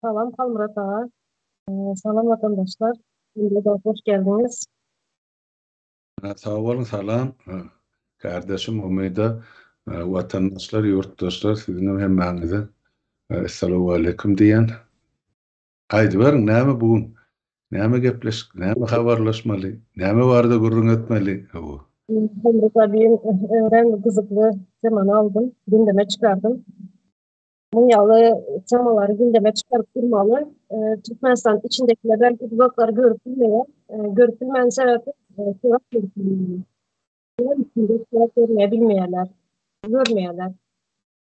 Salam Halmyrat aga. Salam watandaşlar. Ýene-de hoş geldiňiz. Sag boluň, salam. Kärdeşim Umyda, watandaşlar, ýurtdaşlar, siziňem hemmäňize Essalamualeýkum diýýän. Aýdyberiň, näme bu gün? Näme gepleşik, näme habarlaşmaly, näme barada gürrüň etmeli? Hawa. Hemra Sabiýewiň örän gyzykly temany aldym, gündeme çykardym. Munuň ýaly temalary gündeme çykaryp durmaly. Türkmenistanyň içindekiler belki uzaklary görüp bilmeýär. Görüp bilmäniň sebäbi surat görüp bilmeýärler. Surat görmeýärler, görmeýärler.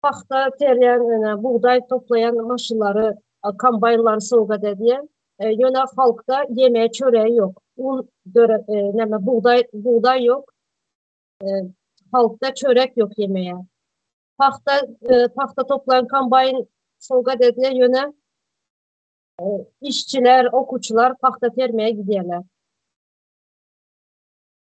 Pagta terýän, ýöne bugdaý toplaýan maşynlary, kombaýnlary sowgat edýär. Ýöne halkda ýemeýe çöreýi ýok. Un döre, näme, bugdaý, bugdaý ýok. Halkda çörek ýok ýemeýe. Pagta, pagta toplaýan kombaýn sowgat edýär, ýöne işçiler, okuwçylar pagta termeye gidýärler.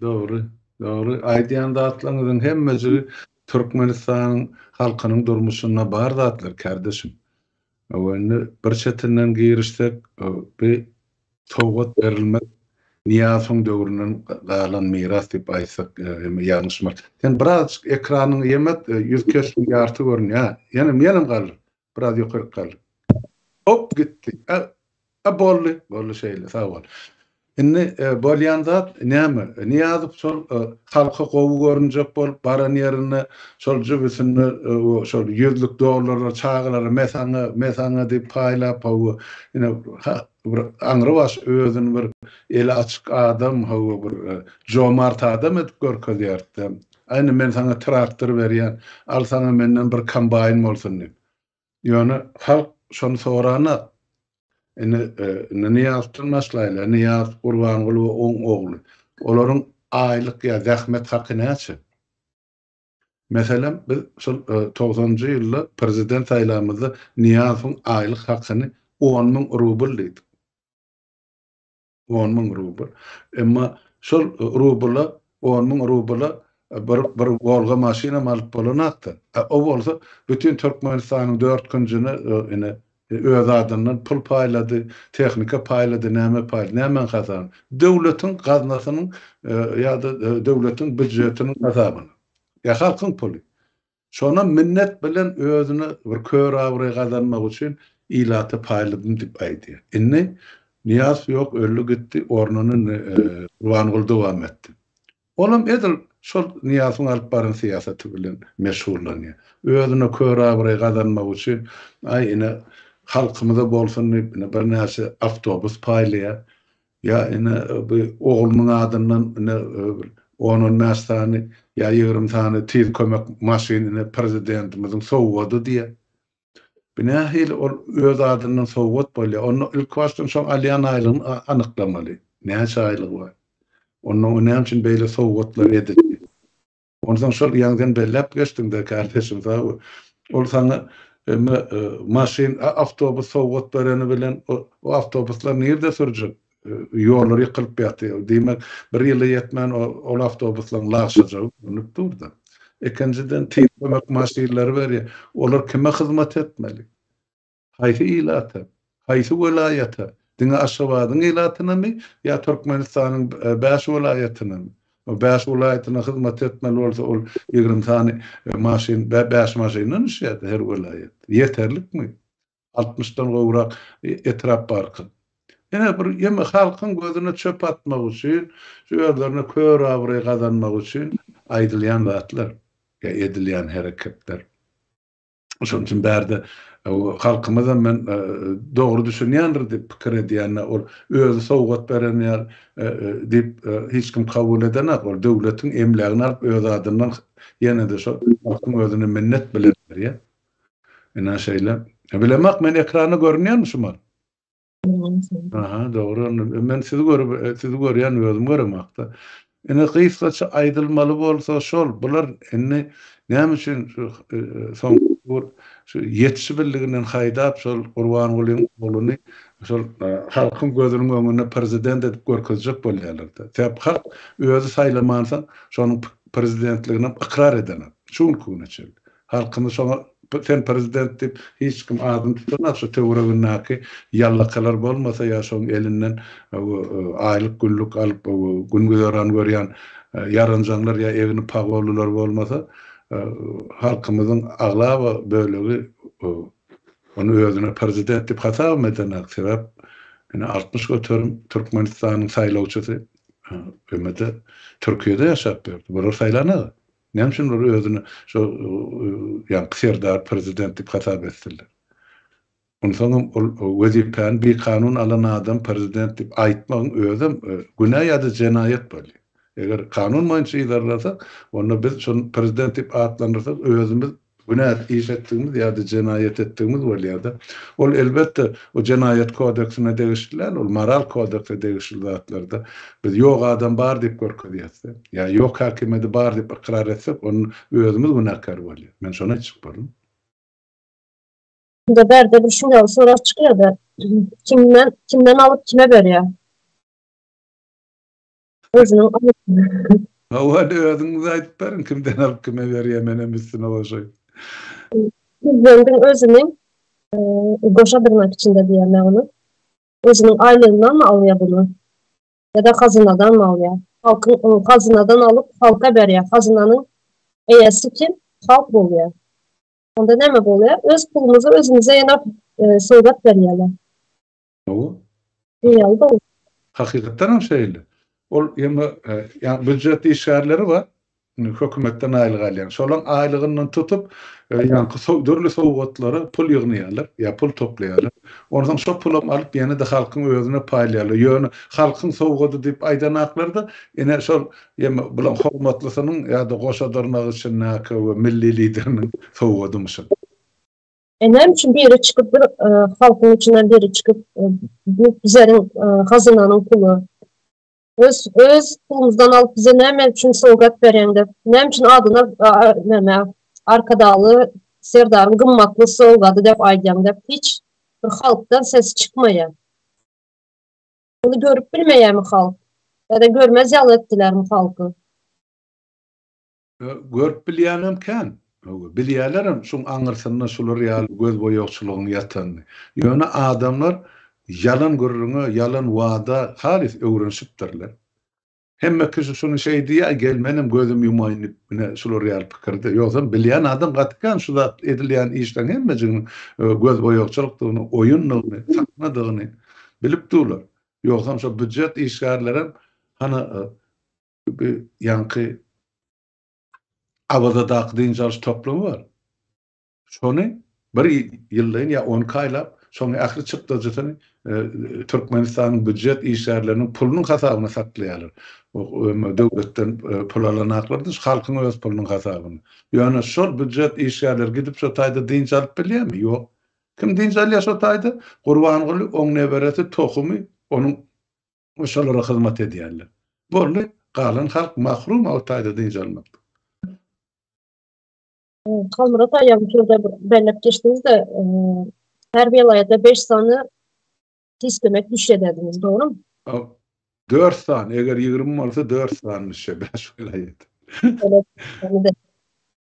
Dogry, dogry. Aýdýan zatlaryňyzyň hemmejigi Türkmenistanyň halkynyň durmuşynda bar zatlar, kärdeşim. Indi bir çetinden girişsek, bi sowgat berilmek Nyýazowyň döwründen galan miras diýip aýtsak hem ýalňyşmarys. Sen birazajyk ekranyňy ýemek, ýüz keşbiň ýarty görünýär. Ýenem, ýenem galdyr. Biraz ýokaryk galdyr. Hop gitdi. A boldy. Boldy şeýle. Sag bol. Indi bolýan zat näme? Nyýazow şol halka gowy görünjek bolup baran ýerinde şol jübüsinde şol ýüzlük dollarlar çagalara me saňa, me saňa diýip paýlap hawa ine bir aňrybaş özüni bir eli açyk adam hawa bir jomart adam edip görkezýärdi-de. Aýna, men saňa traktor berýän, al saňa menden bir kombaýn bolsun diýip. Ýöne halk şony soranok. Indi, indi Nyýazdan başlaýla, Nyýaz Gurbangulyby oň ogly. Olaryň aýlyk ýa zähmet haky näçe? Meselem, biz şol togsanjy ýylda prezident saýlamyzda Nyýazowyň aýlyk hakyny on müň rubl diýdik. On müň rubl. Emma şol rubla, on müň rubla bir, bir Wolga maşynam alyp bolanok-da. A o bolsa bütin Türkmenistanyň dört künjüne ine, öz adyndan pul paýlady, tehnika paýlady, näme paýlady, nämäň hasabyna? Döwletiň gaznasynyň ýa-da döwletiň býujetiniň hasabyna. Ýa halkyň puly. Şonam minnet bilen özüne bir kör abraý gazanmak üçin ilata paýladym diýip aýdýar. Indi Nyýazow ýok, öldi gitdi, ornuny Gurbanguly dowam etdi. Olam edil şol Nyýazowyň alyp baran syýasaty bilen meşgullanýar. Özüne kör abraý gazanmak üçin, aý ine halkymyza bolsun diýip, ine birnäçe awtobus paýlaýar. Ýa ine bu oglunyň adyndan ine bir on-on bäş sany ýa ýigrimi sany tiz kömek maşyn ine prezidentimiziň sowgady diýe. Bu nähili ol öz adyndan sowgat bolýa. Onda ilkibaşdan şoň alýan aýlygyny anyklamaly. Näçe aýlygy bar. Ondan o näme üçin beýle sowgatlar edildi. Onsoň şol ýaňdan belläp geçdiňdä kärdeşim sag ol saňa emma maşyn awtobus sowgat bereni bilen o awtobuslar nirde sürjek ýollar ýykylyp ýatyr diýmek bir ýyla ýetmän ol awtobuslaň lagşajagy görünip durda ikinjiden tiz kömek maşynlary berýä olar kime hyzmat etmeli Haýsy ilata? Haýsy welaýata? Diňe Aşgabadyň ilatynamy ýa Türkmenistanyň bäş welaýatynamy? O bäş welaýatyna hyzmat etmeli bolsa, ol ýigrimi sany maşyn, bäş maşyndan düşýärdi her welaýat. Ýeterlikmi? Altmyşdan gowrak etrap barka. Ine bir ýene halkyň gözüne çöp atmak üçin, şu özlerine kör abraý gazanmak üçin aýdylýan zatlar ýa edilýän hereketler. Şonuň üçin bärde halkymyzam men dogry düşünýändir diýip pikir edýän. Ol özi sowgat beren ýaly diýip hiç kim kabul edenak. Ol döwletiň emlägini alyp öz adyndan ýene-de şol halkyň özüne minnet bilen berýär. Ine şeýle. Bilemak men ekranda görünýärmi şu mahaly? Aha, dogry onda. Men sizi görüp, sizi görýän, özüm göremok-da. Ine, gysgaça aýdylmaly bolsa şol, bular indi näme üçin şu soňky gur şu ýetişibildiginden haýdap şol Gurbangulyň ogluny şol halkyň gözüniň öňünde prezident edip görkezjek bolýarlar-da. Sebäp halk özi saýlamansoň şonuň prezidentliginem ykrar edenak. Şu günki güne çenli. Halkymyz şoňa sen prezident diýip hiç kim adyny tutanok şu töweregindäki ýallakalar bolmasa ýa şoň elinden aýlyk günlük alyp gün güzeran görýän ýaranjaňlar ýa egni pagollylar bolmasa halkymyzyň aglaba bölegi ony özüne prezident diýip hasabam edenak sebäp ine altmyş göterim türkmenistanyň saýlawçysy ömede türkiýede ýaşap ýördi bular saýlanaga. Näme üçin olar özüni şo ýaňky serdar prezident diýip hasap etsinler? Onsoňam ol wezipäni bikanun alan adam prezident diýip aýtmagyň özem günä ýa-da jenaýat bolýar. Eger kanun boýunça yzarlasa, onda biz şony prezident diýip atlandyrsak, özümiz günäli iş etdigimiz ýa-da jenaýat etdigimiz bolýar-da. Ol, elbetde, o Jenaýat kodeksine degişli däl, ol Moral kodekse degişli zatlar-da. Biz ýok adam bar diýip görkezýäs-de. Ýa ýok häkimiýeti bar diýip ykrar etsek, onda özümiz günäkär bolýas. Men şony aýtjak boldum. Onda bärde bir şuňaly sorag çykýar-da, kimden, kimden alyp kime berýär? Özüniň aýtmagy. Hawa indi özüňiz aýdyp beriň kimden alyp kime berýä menem üstüne goşaýyn. Prezidentiň özüni goşa dyrnak içinde diýýärler ony. Özüniň aýlygyndanmy alýar buny? Ýa-da hazynadanmy alýar? Halkyň hazynadan alyp halka berýär. Hazynanyň eýesi kim? Halk bolýar. Onda näme bolýar? Öz pulumyzy özümize ýene sowgat berýärler. Hawa. Diýýärdi. Hakykatdan hem şeýle. Ol ýa-da ýa býujet işgärleri bar, indi hökümetden aýlyk alýan. Şolaryň aýlygyndan tutup, ýaňky so dürli sowgatlara pul ýygnaýarlar, ýa pul toplaýarlar. Ondan soň şo pulam alyp ýene-de halkyň özüne paýlaýarlar. Ýöne halkyň sowgady diýip aýdanaklar-da, ine şol ýa-da bularyň hormatlysynyň ýa-da goşa dyrnak içindäki we milli lideriniň sowgadymyşyn. E näme üçin biri çykyp bir e, halkyň içinden biri çykyp e, bu bizleriň e, hazynanyň puly. Öz öz pulumyzdan alyp bize näme üçin sowgat berýäň dep. Näme üçin adyna näme Arkadagly Serdaryň gymmatly sowgady dep aýdýaň dep hiç bir halkdan ses çykmaýar. Bunu görüp bilmeýärmi halk? Ýa-da görmez ýaly etdilermi halky? Görüp bilýänem kän. Bilýälerem şuň aňyrsynda şular ýaly gözboýagçylygyň ýatanyny. Ýöne adamlar ýalan gürrüňe, ýalan wada halys öwrenişipdirler. Hemme kişi şuny şeý diýýär, gel menem gözüm ýumaýyn diýip, ine, şular ýaly pikirde. Ýogsam bilýän adam gaty kän şu zat edilýän işleriň hemmejiginiň gözboýagçylykdygyny, oýundygyny, sahnadygyny bilip durlar. Ýogsam şo býujet işgärlerem hany Bu ýaňky Awazadaky dynç alyş toplumy bar. Şony bir ýyldan ýa on iki aýlap, şonuň ähli çykdajysyny Türkmenistanyň býujet işgärleriniň pulunyň hasabyna saklaýarlar. Döwletden pul alanaklar da halkyň öz pulunyň hasabyna. Ýöne şol býujet işgärleri gidip şo taýda dynç alyp bilýärmi? Ýok. Kim dynç alýar şo taýda? Gurbanguly, oň neberesi, tohumy, onuň we şolara hyzmat edýärler. Boldy, galan halk mahrum o taýda dynç almakdan. Halmyrat aýam şurada bir belläp geçdiňiz-de, her welaýata beş sany tiskemek düşedediňiz, dogrumy? Dört sany, eger ýigrimi bolsa dört sany düşer, bäş welaýata.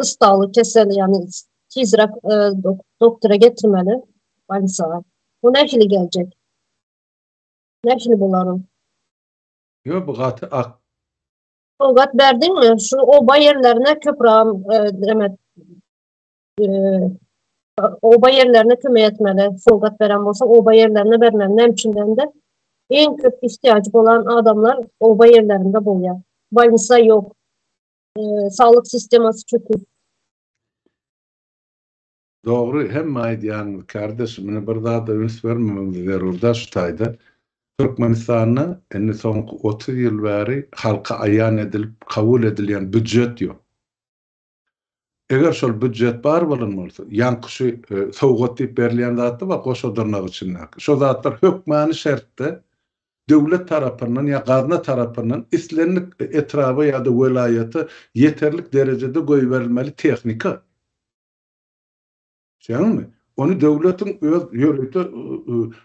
Ustawly kesel, ýagny tizräk doktora getirmeli bolýsa. Bu nähili geljek? Nähili bolar ol? Ýo bu gaty ak. Sowgat berdiňmi? Şu oba ýerlerine köpüram näme oba ýerlerine kömek etmeli. Sowgat beren bolsa oba ýerlerine bermeli. Näme üçin dende? Iň köp ihtiýajy bolan adamlar oba ýerlerinde bolýar. Bolnisa ýok. saglyk sistemasy çöküp. Dogry hemme aýdýanyňyz kardeş mine bir zada üns bermemiz zerur da şu taýda Türkmenistanda indi soňky otuz ýyl bäri halka aýan edilip kabul edilýän býujet ýok. Eger şol býujet bar bolan bolsa ýaňky şu sowgat diýip berilýän zatda bar goşa dyrnak içindäki şo zatlar hökmany şertde döwlet tarapyndan ýa gazna tarapyndan islendik etraba ýa-da welaýata ýeterlik derejede goýberilmeli tehnika. Düşýäňizmi? Ony döwletiň öz ýörite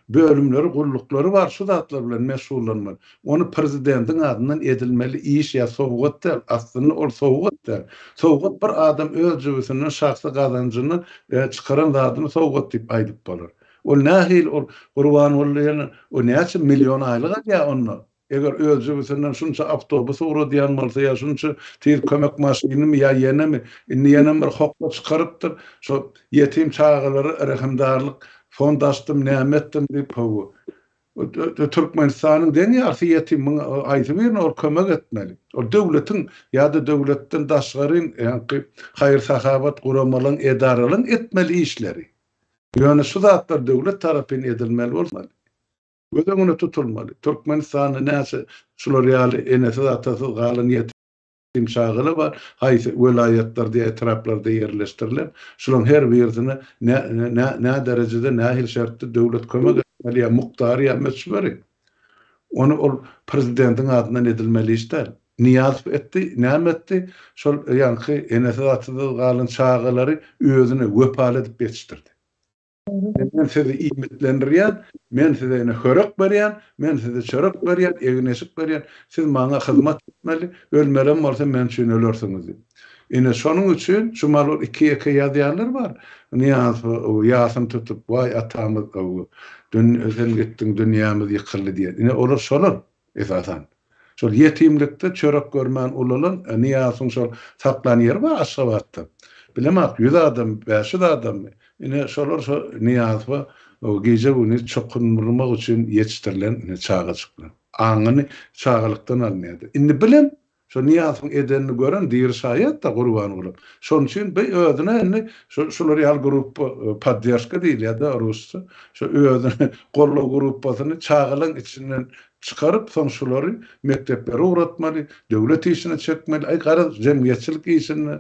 bölümleri, gulluklary bar şu zatlar bilen meşgullanmaly. Ony prezidentiň adyndan edilmeli iş ýa sowgat däl, aslynda ol sowgat däl. Sowgat bir adam öz jübüsinden şahsy gazanjyndan çykaran zadyny sowgat diýip aýdyp bolar. Ol nähili ol Gurbanguly diýen o näçe million aýlyk alýar onda? Eger öz jübüsinden şunça awtobus ugradýan bolsa ýa şunça tiz kömek maşynymy ýa ýenemi indi ýenem bir hokga çykarypdyr şo ýetim çagalara rehimdarlyk fond açdym näme etdim diýip hawa Türkmenistanyň deň ýarysy ýetim muň haýsy birine ol kömek etmeli ol döwletiň ýa-da döwletden daşgaryn ýaňky haýyr-sahawat guramalaň edaralaň etmeli işleri Ýöne şu zatlar döwlet tarapyn edilmeli bolmaly. Göz öňüne tutulmaly. Türkmenistanda näçe şular ýaly enesiz-atasyz galan ýetim çagalar bar, haýsy welaýatlarda ýa etraplarda ýerleşdirilen, şularyň her birisine nä derejede, nähili şertde döwlet kömek etmeli ýa mukdary ýa möçberi? Ony ol prezidentiň adyndan edilmeli iş däl. Nyýazow etdi, näme etdi? Şol ýaňky enesiz atasyz galan çagalary özüne wepaly edip ýetişdirdi. Ine men sizi iýmitlendirýän, men size ine hörek berýän, men size çörek berýän, egin-eşik berýän, siz maňa hyzmat etmeli, ölmelem bolsa men üçin ölersiňiz diýip. Ine, şonuň üçin şu mallar iki-ýeke ýazýanlar bar. Nyýaz ýasyny tutup, Waý, atamyz, sen gitdiň, dünýämiz ýykyldy diýýän. Ine, olar şolar, esasan. Şol ýetimlikde çörek görmän ulalan Nyýazyň şol saklan ýeri bar Aşgabatda. Bilemok, ýüz adam, bäş ýüz adammy, ine, şolar şo Nyýazowa gije-gündiz çokuny nurmak üçin ýetişdirilen çagajyklar. Aňyny çagalykdan alynýardy. Indi bilen Şo Nyýazowyň edenini gören diri şaýat-da Gurbangulyň. Şonuň üçin bi özüne indi şu şular ýaly gruppa, poddержка diýilýär-dä rusça, şo özüne goldaw gruppasyny çagalaň içinden çykaryp, soň şulary mekdeplere ugratmaly, döwlet işine çekmeli. Aý, garaz, jemgyýetçilik işinde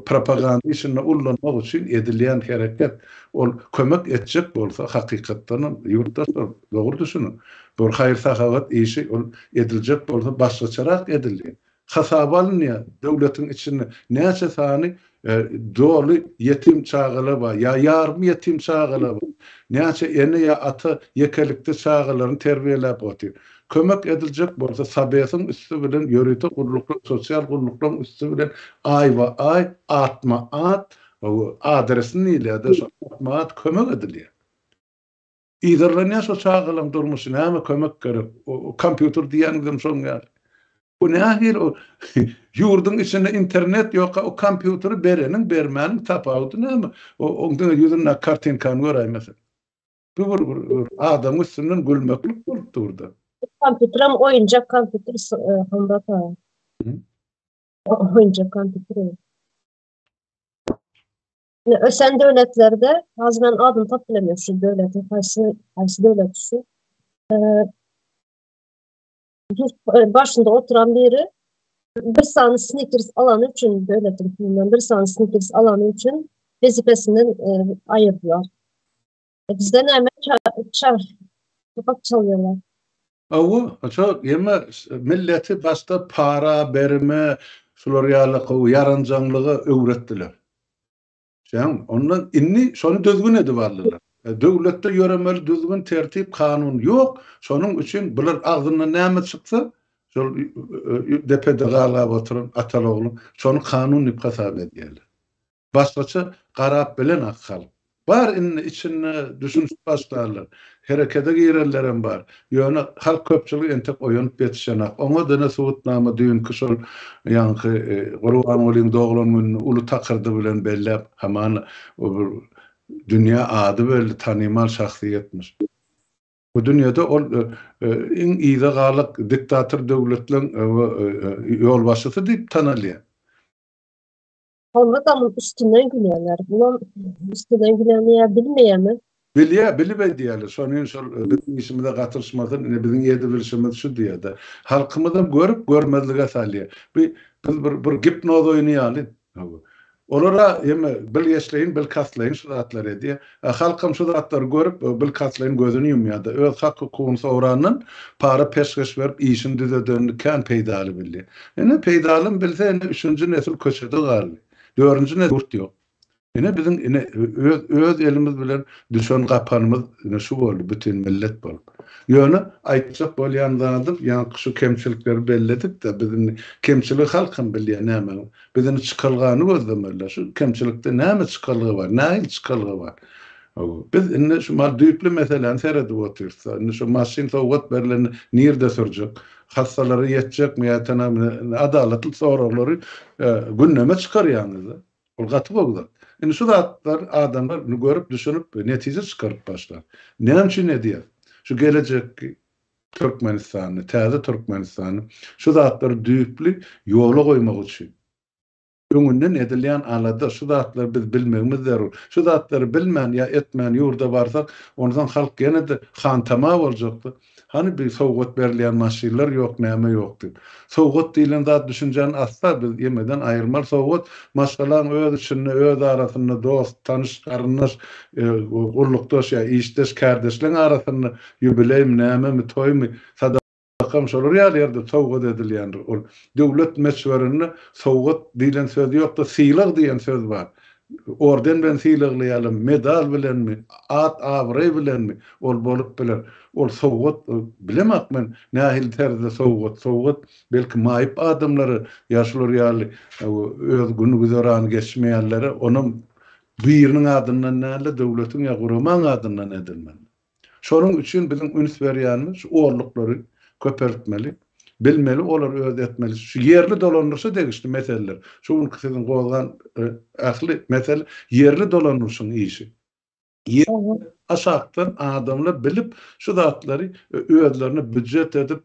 Propaganda işinde ullanmak üçin edilýän hereket, ol kömek etjek bolsa, hakykatdanam, ýurtdaşlar, dogry düşüniň, bir haýyr-sahawat işi, ol ediljek bolsa, başgaçarak edilýär. Hasaba alynýar, döwletiň içinde näçe sany doly ýetim çagalar bar ýa ýarym ýetim çagalar bar, näçe ene ýa ata ýekelikde çagalaryny terbiýeläp otyr. Kömek ediljek bolsa Sabesiň üsti bilen ýörite gulluklar, sosial gulluklaryň üsti bilen aýba-aý, atma-at, adresini diýilýär-de şol, atma-at kömek edilýär. Yzarlanýar şo çagalaň durmuşy, näme kömek gerek, kompýuter diýýäňizem şoň ýaly. Bu nähili o ýurduň içinde internet ýoka o kompýuteri bereniň bermäniň tapawudy näme? Oň diňe ýüzündäki kartinkany göräýmeseň. Gür gür gür. Adamyň üstünden gülmeklik bolup durdy. Kompýuterim oýunjak kompýuter Hondaka. Oýunjak kompýuter. Ne ösen döwletlerde azman adam tapylamyş döwletiň haýsy haýsy döwlet şu. başynda oturan biri bir sany snikers alany üçin döwletiň pulundan bir sany snikers alany üçin wezipesinden e, aýyrdylar. E, bizde näme çar kapak çalýarlar. Awa, şo ýeme milleti başda para berme, şular ýaly gowy ýaranjaňlyga öwretdiler. Jan, onda indi şony düzgün edip aldylar. Döwletde ýöremeli düzgün, tertip, kanun ýok. Şonuň üçin bular agzyndan näme çyksa, şol depede galgap oturan ataly-ogly şony kanun diýip hasap edýärler. Başgaça garap bilenok halk. Bar indi içinde düşünişip başlarlar. Herekete girenlerem bar. Ýöne halk köpçüligi entek oýanyp ýetişenak. Oňa dine subutnama düýnki şol ýaňky Gurbangulyň doglan gününi uly takyrdy bilen belläp hamana o bir dünýä ady belli tanymal şahsyýetmiş. Bu dünýede ol iň yza galyk diktator döwletleň ýolbaşçysy diýip tanalýar. Onda da üstünden gülýärler. Bulam üstünden güleni ýa bilmeýärmi? Bilýär, bilip edýärler. Şonuň üçin şol biziň işimize gatylşmasyn, ine biziň edebilşimiz şu diýerdi. Halkymyzam görüp görmezlige salýar. Bu biz bir bir gipnoz oýny ýaly. Olara eme bilgeşleýin, bilkastlaýyn şu zatlary edýär. A halkam şu zatlary görüp, bilkastlaýyn gözüni ýumýa-da, öz hak-hukugyny sorandan, para peşgeş berip, işini düzedenini kän peýdaly bildi. Ine, peýdalym bilse, ine, üçünji nesil köçede galdy. Dördünji nesil ýurt ýok. Ine, biziň, ine, öz, öz elimiz bilen düşen gapanymyz, ine, şu boldy, bütin millet bolup. Ýöne, aýtjak bolýan zadym, ýaňky şu kemçilikleri belledik-de, biz indi, kemçiligi halkam bilýär nämeň, Biz indi çykalgany gözlemelidir. Şu kemçilikde näme çykalga bar? Nähili çykalga bar? Biz indi şu mal düýpli meseläni seredip otyrys. Indi şu maşyn sowgat berlende nirde sürjek? Hassalara ýetjekmi ýa tanabine? Adalatly soraglary gündeme çykarýaňyz. Ol gaty gowy zat. Indi şu zatlar adamlar görüp, düşünip, netije çykaryp başlar. Näme üçin edýär? Şu gelejekki Türkmenistany, täze Türkmenistany şu zatlary düýpli ýola goýmak üçin öňünden edilýän alada, şu zatlary biz bilmegimiz zerur. Şu zatlary bilmän ýa etmän ýurda barsak, onsoň halk ýene-de hantama boljakdy. Hany bi sowgat berilýän maşynlar ýok, näme ýok diýip. Sowgat diýlen zat düşünjäni asla biz ýemeden aýyrmaly. Sowgat maşgalaň öz içinde, öz arasynda, dost, tanyş, garyndaş, gullukdaş ýa işdeş, kärdeşleň arasynda Ýubileými, nämemi, toýmy, sadakamy şolar ýaly ýerde sowgat edilýändir. Ol döwlet möçberinde sowgat diýlen söz ýok-da, sylag diýen söz bar. Orden bilen sylaglaýarlar, medal bilenmi, at-abraý bilenmi, ol bolup biler. Ol sowgat, bilemak men, nähili terzde sowgat. Sowgat, belki, maýyp adamlara ýa şular ýaly öz gün-güzerany geçmeýänlere, onam biriniň adyndan däl-de, döwletiň ýa guramaň adyndan edilmelidir. Şonuň üçin biziň üns berýänimiz şu orluklary köpeltmeli, bilmeli, olary öz etmeli. Şu ýerli dolandyryşa degişli meseleler, şu günki siziň gozgan ähli mesele ýerli dolandyryşyň işi. Ýerli aşakdan adamlar bilip şu zatlary özlerine býujet edip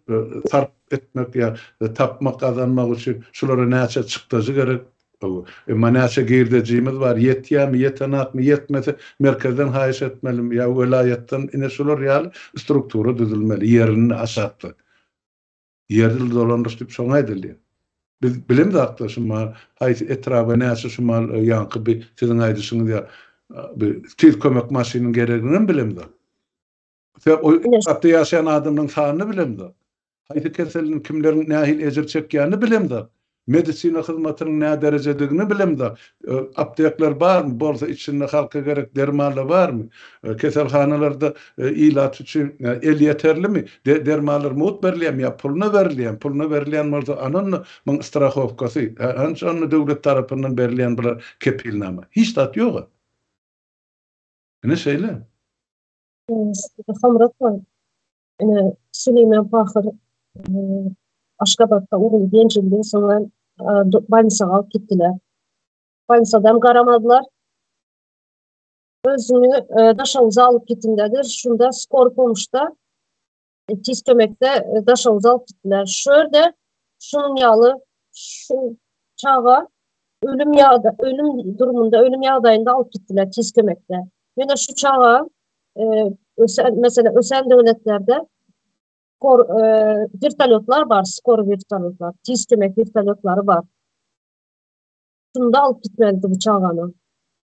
sarp etmek ýa tapmak, gazanmak üçin şulara näçe çykdajy gerek, Hawa. Emma näçe girdejimiz bar, ýetýärmi, ýetenakmy, ýetmese merkezden haýyş etmelimi ýa welaýatdan, ine şular ýaly struktura düzülmeli, ýerinde aşakda. Ýerli dolandyryş diýip şoňa aýdylýar. Biz bilemzakda şu mal haýsy etraba näçe şu mal ýaňky bir siziň aýdyşyňyz ýaly bir tiz kömek maşynyň gereginem bilemzok. Sebäp ol etrapda ýaşaýan adamlaryň sanyny bilemzok. Haýsy keseliň kimleriň nähili ejir çekýänini bilemzok. Medisina hyzmatynyň näderejedigini bilemzok. Aptekler barmy? Bolsa içinde halka gerek dermanlar barmy? Keselhanalarda ilat üçin elýeterlimi? Dermanlar mugt berilýärmi ýa puluna berilýärmi? Puluna berilýän bolsa anonda muň strahowkasy? Hanç onda döwlet tarapyndan berilýän bular kepilnama? Hiç zat ýoga. Ine şeýle. Hamyrat baý, ine, Süleýman pahyr Aşgabatda uruldy, ýenjildi, soňra bolnisaga alyp gitdiler. Bolnisadam garamazlar. Özüni Daşoguza alyp gitdiler, şunda skor pomuşda Tiz kömekde daşoguz alyp gitdiler. Şu ýerde şunuň ýaly şu çaga ölüm ýa-da ölüm durumunda, ölüm ýagdaýynda alyp gitdiler tiz kömekde. Ýöne şu çaga ösen, meselem, ösen döwletlerde skor vertolyotlar bar, skor vertolyotlar, tiz kömek vertolyotlary bar. Şunda alyp gitmedi bu çagany.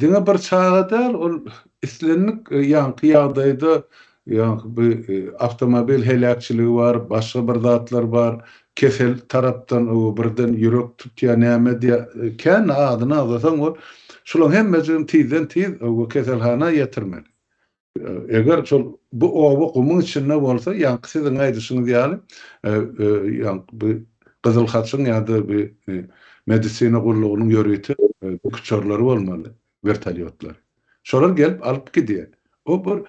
Diňe bir çaga däl, ol islendik ýaňky ýagdaýda, ýaňky bu awtomobil heläkçiligi bar, başga bir zatlar bar, kesel tarapdan birden ýürek tutýar, näme edýär, kän adyny agzasaň, ol şularyň hemmejigini tizden-tiz keselhana ýetirmeli. Eger şol bu oba gumuň içinde bolsa, ýaňky siziň aýdyşyňyz ýaly, ýaňky bu Gyzyl Haçyň ýa-da bu Medisina gullugynyň ýörite uçarlary bolmaly, wertolýotlar. Şolar gelip alyp gidýär. O bir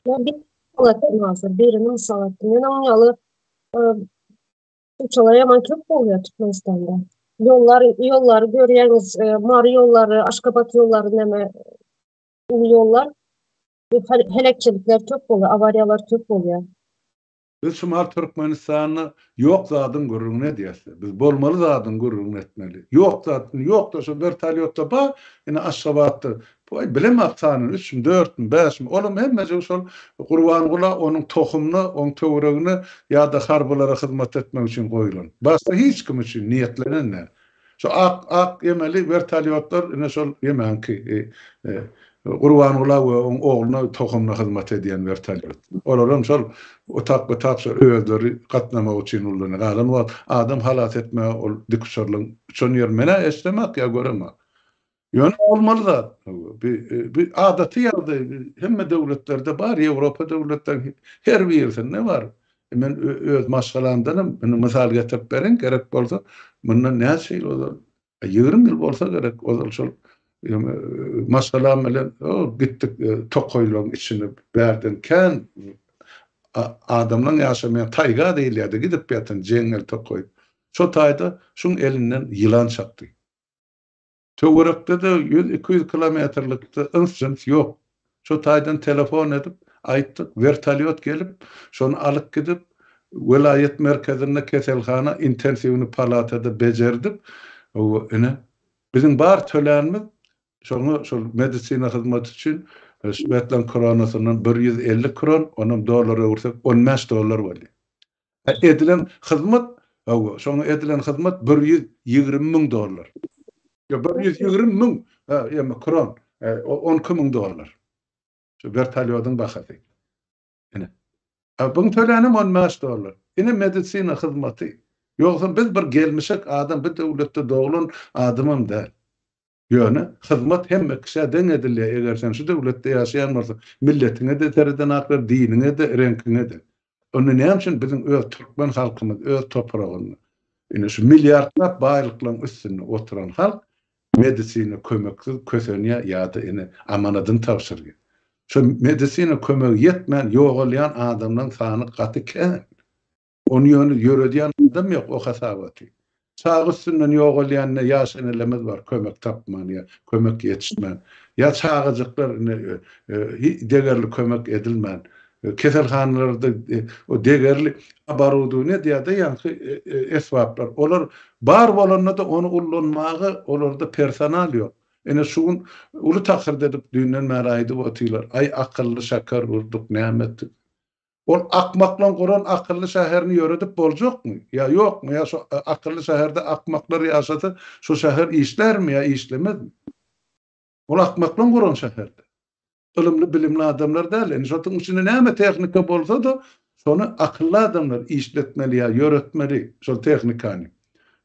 Uçarlar ýaman köp bolýar Türkmenistanda. Ýollar, ýollary görýäňiz, Mary ýollary, Aşgabat ýollary näme uly ýollar. Bu heläkçilikler köp bolýar, awariýalar köp bolýar. Biz şumal Türkmenistanda ýok zadyň gürrüňini edýäsle. Biz bolmaly zadyň gürrüňini etmeli. Ýok zat, indi ýokda şo wertolýotda bar, indi Aşgabatda, boý bilemok sanyny, üçmi, dörtmi, bäşmi, olam hemmejigi şol Gurbangula, onuň tohumyna, oň töweregine ýa-da harbylara hyzmat etmek üçin goýlan. Başga hiç kim üçin niýetlenen däl. Şu ak ak ýemeli wertolýotlar ine şol ýemäňki Gurbangula we oň ogluna tohumly hyzmat edýän wertolýot. Olaram şol otap otap şo özleri gatnamak üçin ullany galan wagt adam halas etmäge ol dikuçarlyň uçan ýeri menä eşdemak ýa göremak. Ýöne bolmaly zat bu. Bu adaty ýagdaý hemme döwletlerde bar, Ýewropa döwletleriniň her birisinde bar. Men öz maşgalamdan hem indi mysal getirip bereýin, gerek bolsa, mundan näçe ýyl ozal, ýigrimi ýyl bolsa gerek, ozal şol maşgalam bilen gitdik tokaýlaryň içine, bärden kän adamlaryň ýaşamaýan taýga diýilýärdi, gidip ýatan jeňňel tokaý. Şo taýda şuň elinden ýylan çapdy. Töwerekde-de ýüz-iki ýüz kilometrlikde yns-jyns ýok. Şo taýdan telefon edip, aýtdyk, wertolýot gelip, şony alyp gidip, welaýat merkezinde keselhana intensiwny palatada bejerdip, ine, biziň bar tölänimiz şoňa şol medisina hyzmaty üçin Swetlana Kronasyndan bir ýüz elli kron, onam dollara öwürsek on bäş dollar bolýar. Edilen hyzmat, hawa, şoňa edilen hyzmat bir ýüz ýigrimi müň dollar. Ýok, bir ýüz ýigrimi müň, ha, ýa-da kron, on iki müň dollar. Şu wertolýodyň bahasy. Ine. A buň tölänem on bäş dollar. Ine medisina hyzmaty. Ýogsam biz bir gelmişek adam, bir döwletde doglan adamam däl. Ýöne, hyzmat hemme kişä deň edilýär, eger sen şu döwletde ýaşaýan bolsaň, milletiňe-de sereden ak ber, diniňe-de, reňkiňe-de. Onda näme üçin biziň öz türkmen halkymyz öz topragynda, ine şu milliardlap baýlyklaryň üstünde oturan halk medisina kömeksiz kösenýär ýa-da ine amanadyny tabşyrýar. Şu medisina kömegi ýetmän ýogalýan adamlaryň sany gaty kän. Ony ýöne ýöredýän adam ýok o hasabaty. Çaga üstünden ýogalýanda ýa senelemiz bar kömek tapman ýa kömek ýetişmän, ýa çagajyklar indi degerli kömek edilmän, keselhanalarda o degerli oborudowniýa diýýärde ýaňky esbaplar olar bar bolanda-da ony ullanmaga olarda personal ýok. Ine şu gün uly takyrt edip düýnden bäri aýdyp otylar, aý akylly şäker urduk näme etdik. Ol akmaklaň guran akylly şäherini ýöredip boljakmy? Ýa ýokmy? Ýa şo akylly şäherde akmaklar ýaşasa, şo şäher işlärmi ýa işlemezmi? Ol akmaklaň guran şäherde. Ylymly, bilimli adamlar däl. Indi şotuň içinde näme tehnika bolsa-da, şony akylly adamlar işletmeli ýa ýöretmeli şol tehnikany.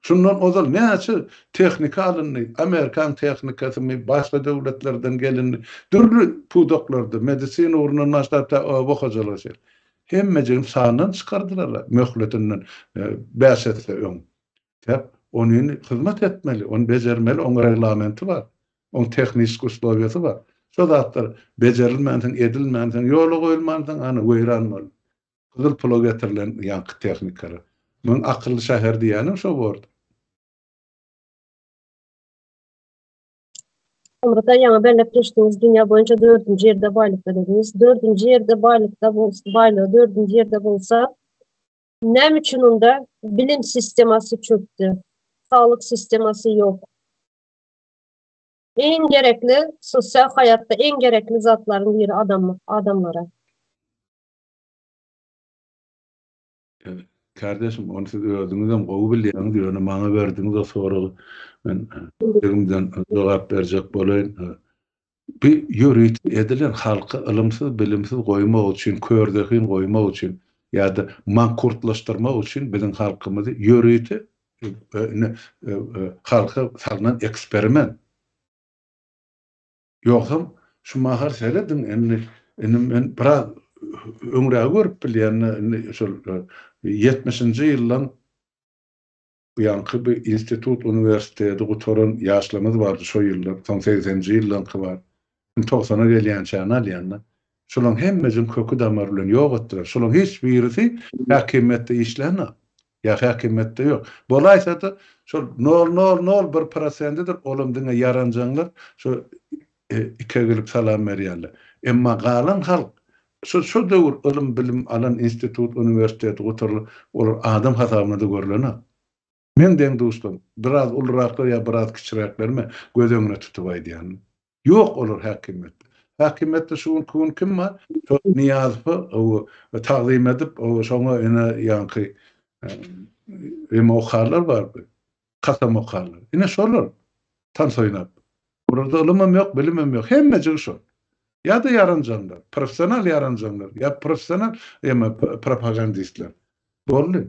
Şundan ozal näçe tehnika alyndy, amerikan tehnikasymy, başga döwletlerden gelindi, dürli pudaklarda, medisina ugrundan başlap tä oba hojalyga çenli. Hemmejigini sandan çykardylar-a, möhletinden bäş esse öň. Sebäp ony hyzmat etmeli, ony bejermeli, oň reglamenti bar, oň tehniski uslowiýasy bar. Şo zatlar bejerilmänsoň, edilmänsoň, ýola goýulmansoň, ana, weýran boldy. Gyzyl pula getirilen ýaňky tehnikalar. Muň akylly şäher diýýänem şo bordy. Soňra-da ýaňy belläp geçdiňiz, dünýä boýunça dördünji ýerde baýlykda diýdiňiz. Dördünji ýerde baýlykda bolsa, baýlygy dördünji ýerde bolsa, näme üçin onda bilim sistemasy çökdi, saglyk sistemasy ýok? Iň gerekli, sosial haýatda iň gerekli zatlaryň biri adamlyk, adamlara. Kardeşim ony siz özüňizem gowy bilýäňiz ýöne maňa berdiňiz o soragy men ýüregimden jogap berjek bolaýyn. Bu ýörite edilen halky ylymsyz bilimsiz goýmak üçin kör zehin goýmak üçin ýada mankurtlaşdyrmak üçin biziň halkymyzy ýörite halka salnan eksperiment. Ýogsam, şu mahal serediň, indi, indi men biraz öňrägi görüp bilýän-de, indi şol ýetmişinji ýyldan buýanky bir institut, uniwersiteti gutaran ýaşlarymyz bardy şo ýyllar, soň segseninji ýyllarky bar. Indi togsana gelýänçäni alýan-da. Şolaryň hemmesini köki-damary bilen ýok etdiler. Şolaryň hiç birisi häkimiýetde işlänok. Ýa häkimiýetde ýok. Bolaýsady, şol nol nol nol bir prosendidir, olam diňe ýaranjaňlar şo ik egilip salam berýänler. Emma galan halk, şo şo döwür ylym bilim alan institut uniwersiteti gutarylan olar adam hasabynada görlenok. Meň deň duşlarym, biraz uluraklar ýa biraz kiçiräklerime göz öňüne tutup aýdýan. Ýok olar häkimiýetde. Häkimiýetde şu günki gün kim bar? Şol Nyýazowa ow tagzym edip, ow şoňa ine ýaňky eme okarlar bardy. Kasam okarlar. Ine şolar tans oýnap. Olarda ylymam ýok, bilimem ýok. Hemmejigi şol. Ýa-da ýaranjaňlar, professional ýaranjaňlar, ýa professional eme propagandistler. Boldy.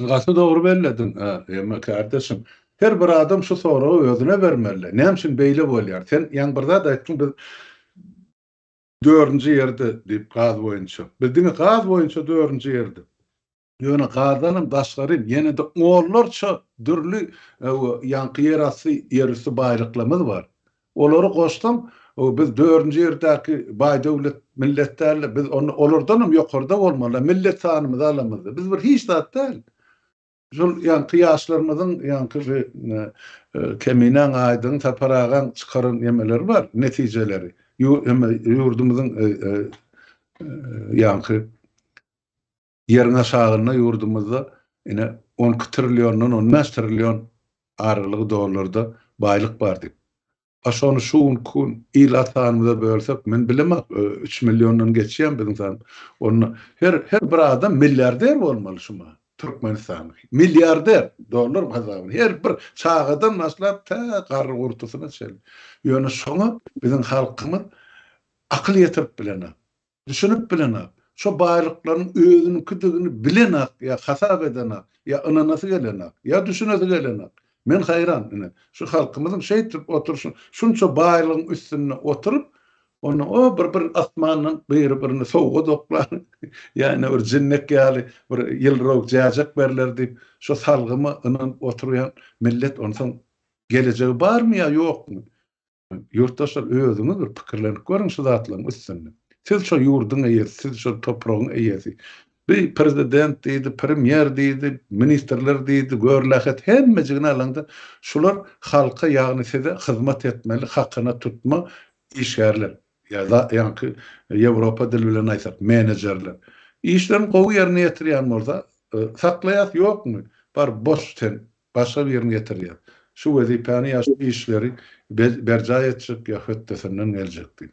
Gaty dogry bellediň Emma kardeşim. Her bir adam şu soragy özüne bermeli. Näme üçin beýle bolýar? Sen ýaňy bir zat aýtdyň biz dördünji ýerde diýip gaz boýunça. Biz diňe gaz boýunça dördünji ýerde. Ýöne gazdanam daşgarym ýene-de onlarça dürli ýaňky ýerasty ýerüsti baýlyklarymyz bar. Olary goşsaň, biz dördünji ýerdäki baý-döwlet millet däl-de, biz onda olardanam ýokarda bolmaly, millet sanymyzy alamyzda. Biz bir hiç zat däl. Şol ýaňky ýaşlarymyzyň, ýaňky bi Keminäň, Aýdyň, Sapar agaň çykaran nemeleri bar, netijeleri. Ýurdumyzyň ýaňky Ýeriň aşagynda ýurdumyzda ine on iki trilliondan on bäş trillion aralygy dollarda baýlyk bar diýip. A şony şu günki gün il sanymyza bölsek, men bilemok, üç milliondan geçýärmi biziň san. Onda her her bir adam milliarder bolmaly şu mahaly. Türkmenistanly. Milliarder dollar hasabyna. Her bir çagadan başlap tä garry gurtusyna çenli. Ýöne şoňa biziň halkymyz akyl ýetirip bilenok. Düşünip bilenok. Şo baýlyklaryň özüniňkidigini bilenok ýa hasap edenok, ýa ynanasy gelenok, ýa düşünesi gelenok. Men haýran, ine, şu halkymyzyň şeýtdip oturyşyna, şunça baýlygyň üstünde oturyp, onda o bir bir asmandan biri-birine sowga doklar, ýa ine bir jinnek ýaly bir ýylrowuk jäjek berler diýip, şo salgyma ynanyp oturýan millet onsoň gelejegi barmy ýa ýokmy? Ýurtdaşlar özüňiz bir pikirlenip görüň şu zatlaryň üstünde. Siz şo ýurduň eýesi, siz şo topragyň eýesi. Bi prezident diýdi, premýer diýdi, ministrler diýdi, görlähet hemmejigini alaňda şular halka ýagny size hyzmat etmeli hakyna tutma işgärler. Ýa da ýaňky ýewropa dili bilen aýtsak menejerler. Işlerini gowy ýerine ýetirýän bolsa saklaýas ýokmy bar boş sen başga birini getirýär. Şu wezipäni ýa şu işleri berjaý etjek ýa hötdesinden geljek diýip.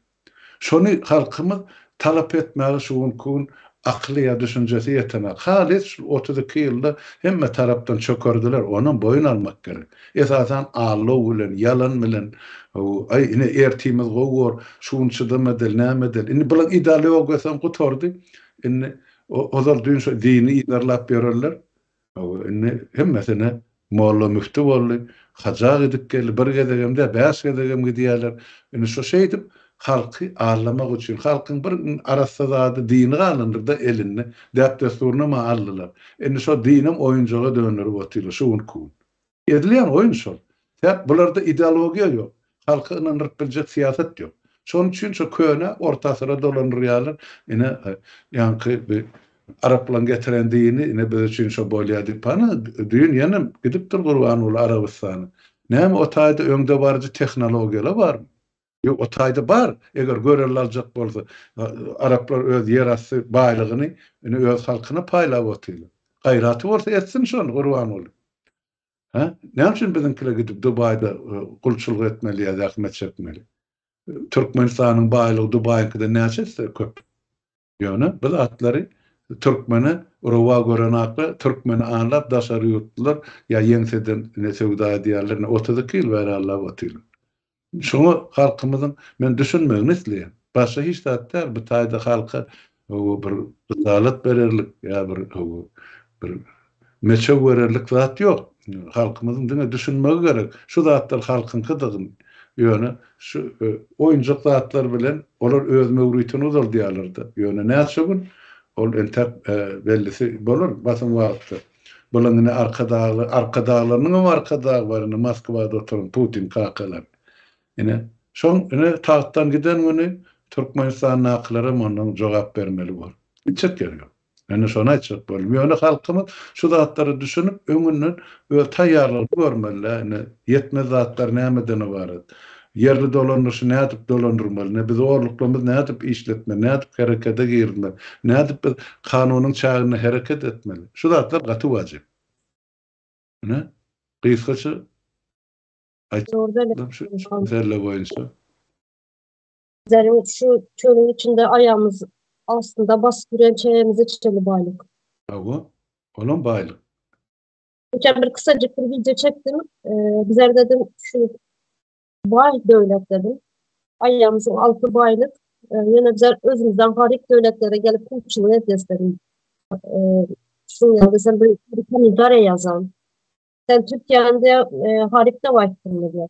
Şony halkymyz talap etmäge şu günki gün akyly ýa düşünjesi ýetenak. Halys şu otuz iki ýylda hemme tarapdan çökerdiler, onam boýun almak gerek. Esasan aldaw bilen, ýalan bilen, aý ine ertimiz gowy bor, şu gün çydam edeli, näme edeli. Indi bularyň ideologiýasam gutardy. Indi ozal düýn şo dini yzarlap ýörerler. Indi hemmesine molla-müfti boldy, haja gidip geldi, bir gezegem däl, bäş gezegem gidýärler. Indi şu şeýdip, halky aldamak üçin, halkyň bir arassa zady, dini galandyr-da elinde, däp-dessuryny-ma aldylar. Indi şo dinem oýunjaga dönderip otyrlar şu günki gün. Edilýän oýun şol. Sebäp bularda ideologiýa ýok, halky ynandyryp biljek syýasat ýok. Şonuň üçin şo köne orta asyra dolandyrýarlar. Ine, ýaňky bi araplaň getiren dini ine biz üçin şo bolýar diýip. Ana, düýn ýene gidipdir Gurbanguly Arabystana. Näme o taýda öňdebaryjy tehnologiýalar barmy? Ýok, o taýda bar, eger görelde aljak bolsa, araplar öz ýer asty baýlygyny indi öz halkyna paýlap otyrlar. Gaýraty bolsa etsin şony, Gurbanguly. Hä? Näme üçin biziňkiler gidip Dubaýda gulçulyk etmeli ýa zähmet çekmeli? Türkmenistanyň baýlygy Dubaýyňkydan näçe esse köp. Ýöne biz atlary türkmene rowa görenakka türkmeni anlap daşary ýurtlular ýa ýeňseden ne söwda edýärler ne otuz iki ýyl bäri anlap otyrlar. Şoňa halkymyzyň men düşünmegini isleýän. Başga hiç zat däl bu taýda halka bir ryzalat bererlik ýa bir bir Meçew bererlik zat ýok. Halkymyzyň diňe düşünmegi gerek. Şu zatlar halkyňkydygyny. Ýöne şu oýunjak zatlar bilen olar öz möwritini uzaldýarlar-da. Ýöne näçe gün? Ol entäk bellisi bolar basym wagtda. Bulaň indi arkadagly, arkadaglarynyň hem arkadagy bar indi Moskwada oturan Putin kakalar. Ine, şoň ine tagtdan giden güni Türkmenistandakylar hem ondan jogap bermeli bor. Gitjek ýeri ýok. Indi şony aýtjak boldum. Ýöne halkymyz şu zatlara düşünip, öňünden öz taýýarlygyny görmeli-dä. Indi ýetmez zatlar nämeden ybarat? Ýerli dolandyryşy nädip dolandyrmaly? Indi biz orluklarymyzy nädip işletmeli? Nädip herekete girizmeli? Nädip biz kanunyň çäginde hereket etmeli? Şu zatlar gaty wajyp. Ine, gysgaça aýtjak boldum şu mesele boýunça. Zäriň şu çölüň içinde aýagymyz astynda basyp ýören çägimizi içeli baýlyk. Hawa, olam baýlyk. Geçen bir kysajyk bir wideo çekdim. Bizler dedim şu baý döwlet dedim. Aýagymyzyň alty baýlyk. Ýöne bizler özümizden garyp döwletlere gelip pulçulyk edýäs dedim. Şuň ýaly sen bir kommentariýa ýazan. Sen Türkiýäniň diýýär garyp dep aýtdyňmy diýýär.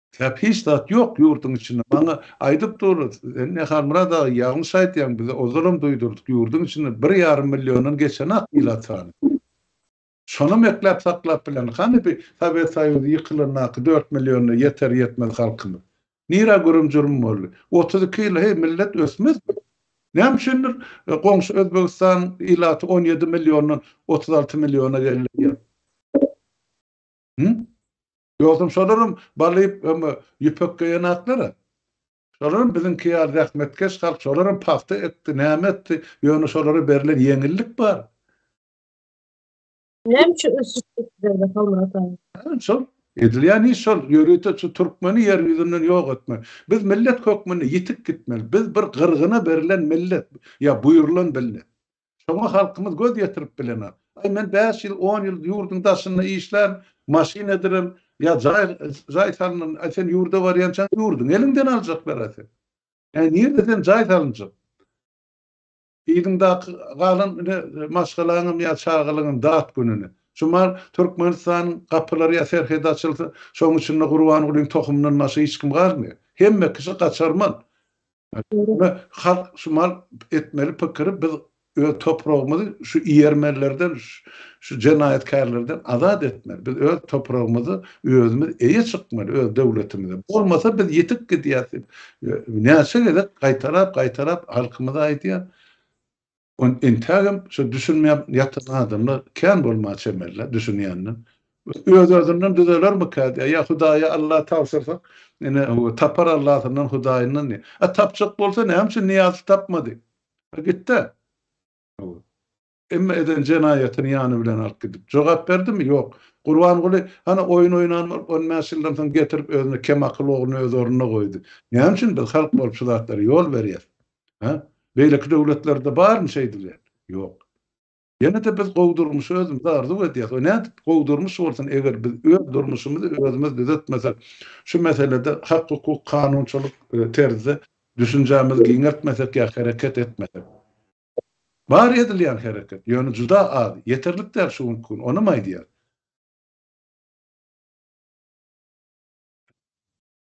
Ýa hiç zat ýok ýurduň içinde maňa aýdyp durlar sen ne Halmyrat aga ýalňyş aýtýaň bize ozalam duýdurdyk ýurduň içinde bir ýarym milliondan geçenak ilat sany şonam ekläp saklap bilen hany bi sowet soýuzy ýykylandaky dört milliona ýeter ýetmez halkymyz nirä gürüm jürüm boldy otuz iki ýyla heý millet ösmezmi näme üçindir goňşy özbegistan ilaty on ýedi milliondan otuz alty milliona geldi ýa Dostum şolaram balyp öňe ýüpek geýenaklara. Şolaram biziňki ýaly zähmetkeş halk şolaram pagta ekdi näme etdi ýöne şolara berlen ýeňillik bar. Näme üçin ösüş etdirýärler Halmyrat aga? Hä şol edilýän iş şol ýörite şu türkmeni ýer ýüzünden ýok etmek. Biz millet hökmünde ýitik gitmeli. Biz bir gyrgyna berlen millet ýa buýrulan billet. Şoňa halkymyz göz ýetirip bilenok. Aý, men bäş ýyl, on ýyl ýurduň daşynda işlän, maşyn edilen ýa jaý, jaý salnan, aý, sen ýurda barýançaň ýurduňy eliňden aljaklar-a seni. Aý, nirde sen jaý salynjak? Yzyňdaky galan ine, maşgalaňam ýa çagalaňam dat gününe. Şu mal Türkmenistanyň gapylary ýa serhedi açylsa, şoň içinde Gurbangulyň tohumyndan başga hiç kim galmaýar. Hemme kişi gaçarman. Şonda halk şu mal etmeli pikiri biz öz topragymyzy şu ýermenlerden şu jenaýatkärlerden azat etmeli. Biz öz topragymyzy özümiz eýe çykmaly öz döwletimize. Bolmasa biz ýitip gidýäs diýip näçe gezek gaýtalap gaýtalap halkymyza aýdýar. Ony entägem şo düşünmän ýatan adamlar kän bolmaga çemeli-le, düşünýänler. Öz-özünden düzelermikä diýýär. Ýa Hudaýa Alla tabşyrsa, ine, tapar Allasyndan, Hudaýyndan diýýär. A tapjak bolsa, näme üçin Nyýazow tapmady? A gitdi-ä. Hawa. Emma eden jenaýatyny ýany bilen alyp gidip, jogap berdimi? Ýok. Gurbanguly, hany, oýun oýnan bolup, on bäş ýyldan soň getirip, özüne kemakyl ogluny öz ornuna goýdy. Näme üçin biz halk bolup şu zatlara ýol berýäs? Hä? Beýleki döwletlerde barmy şeýdilýän? Ýok. Ýene-de biz gowy durmuşy özümize arzuw edýäris we nädip gowy durmuş bolsun, eger biz öz durmuşymyzy özümiz düzetmesek, şu meselede hak-hukuk, kanunçylyk terzde düşünjämizi giňeltmesek ýa hereket etmesek? Bar edilýän hereket, ýöne juda az, ýeterlik däl şu günki gün, onam aýdýar.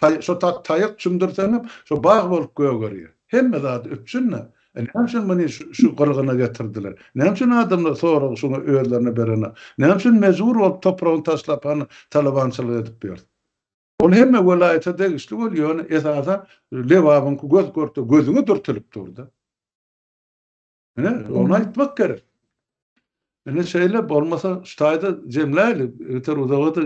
Taý, şo ta, taýak çümdürseňem, şo bag bolup gögerýär. Hemme zady üpjün-le. E, näme üçin muny şu, şu gyrgyna getirdiler? Näme üçin adamlar soragy şuňa özlerine berenok? Näme üçin mejbur bolup topragyny taşlap hany talabançylyk edip ýör? Ol hemme welaýata degişli bol, ýöne esasan Lebabyňky göz-görte, gözüňe dürtülip dur-da. Ine, ony aýtmak gerek. Ine şeýle bolmasa ştaýda jemläli, ýeter uzaga-da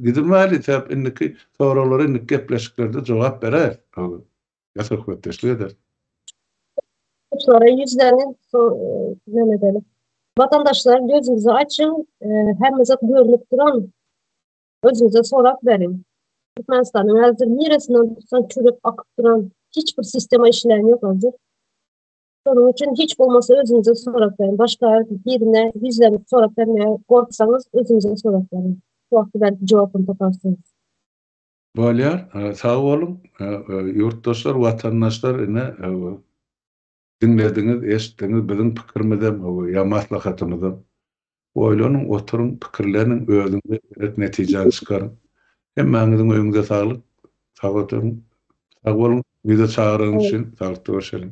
gidilmäli, sebäp indiki soraglara indiki gepleşiklerde jogap berer. Ýa söhbetdeşlik eder. Soraý ýüzleriň ýöne gelip. Watandaşlar gözüňizi açyň, hemme zat görnüp duran. Özüňize sorap beriň. Türkmenistanyň häzir niresinden tutsaň çürek akyp duran hiç bir sistema işleýän ýok özür. Şonuň üçin hiç bolmasa özüňize sorap beriň. Başga birine ýüzlenip sorap bermäge gorksaňyz özüňize sorap beriň. Şu wagty belki jogabyny taparsyňyz. Bolýar. Sag boluň. Ýurtdaşlar, watandaşlar ine Diňlediňiz, eşitdiňiz, biziň pikirimizem, ýa maslahatymyzam. Oýlanyň, oturyň, pikirleniň, özüňize gerek netijäni çykaryň. Hemmäňiziň öýüňize saglyk. Sag oturyň. Sag boluň, bizi çagyraňyz üçin. Saglykda görşeliň.